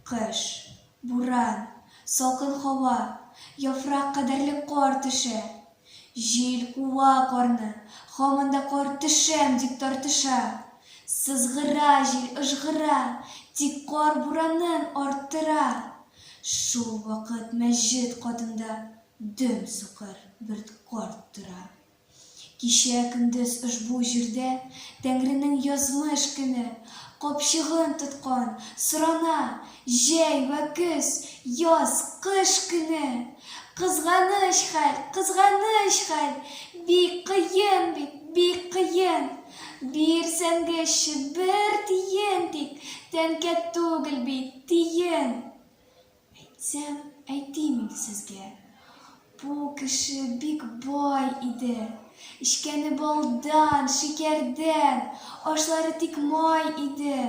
Кыш, буран, салкын һава, яфрак кадәрлек кар төшә. Җил куа карны, һаман да кар төшәм дип тартыша. Сызгыра җил, ыжгыра, тик кар буранын арттыра. Шул вакыт мәчет катында дөм сукыр бер карт тора. Кичә көндез ошбу җирдә Тәңренең язмыш көне капчыгын тоткан сорана, җәй вә көз, яз, кыш көне! Кызганыч хәл, кызганыч хәл! Бик кыен бит, бик кыен! Бирсәңгечче бер тиен тик, тәңкә түгел бит! Диен! Әйтсәм, әйтим инде сезгә. Бу кеше бик бай иде. Эчкәне балдан, шикәрдән, ашлары тик май иде.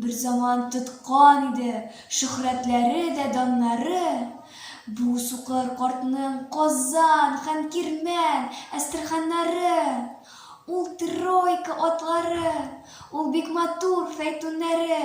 Берзаман тоткан иде шөһрәтләре дә, даннары. Бу сукыр картның Казан һәм Кирмән, Әстерханнары. Ул тройка атлары, ул бик матур фәйтүннәре.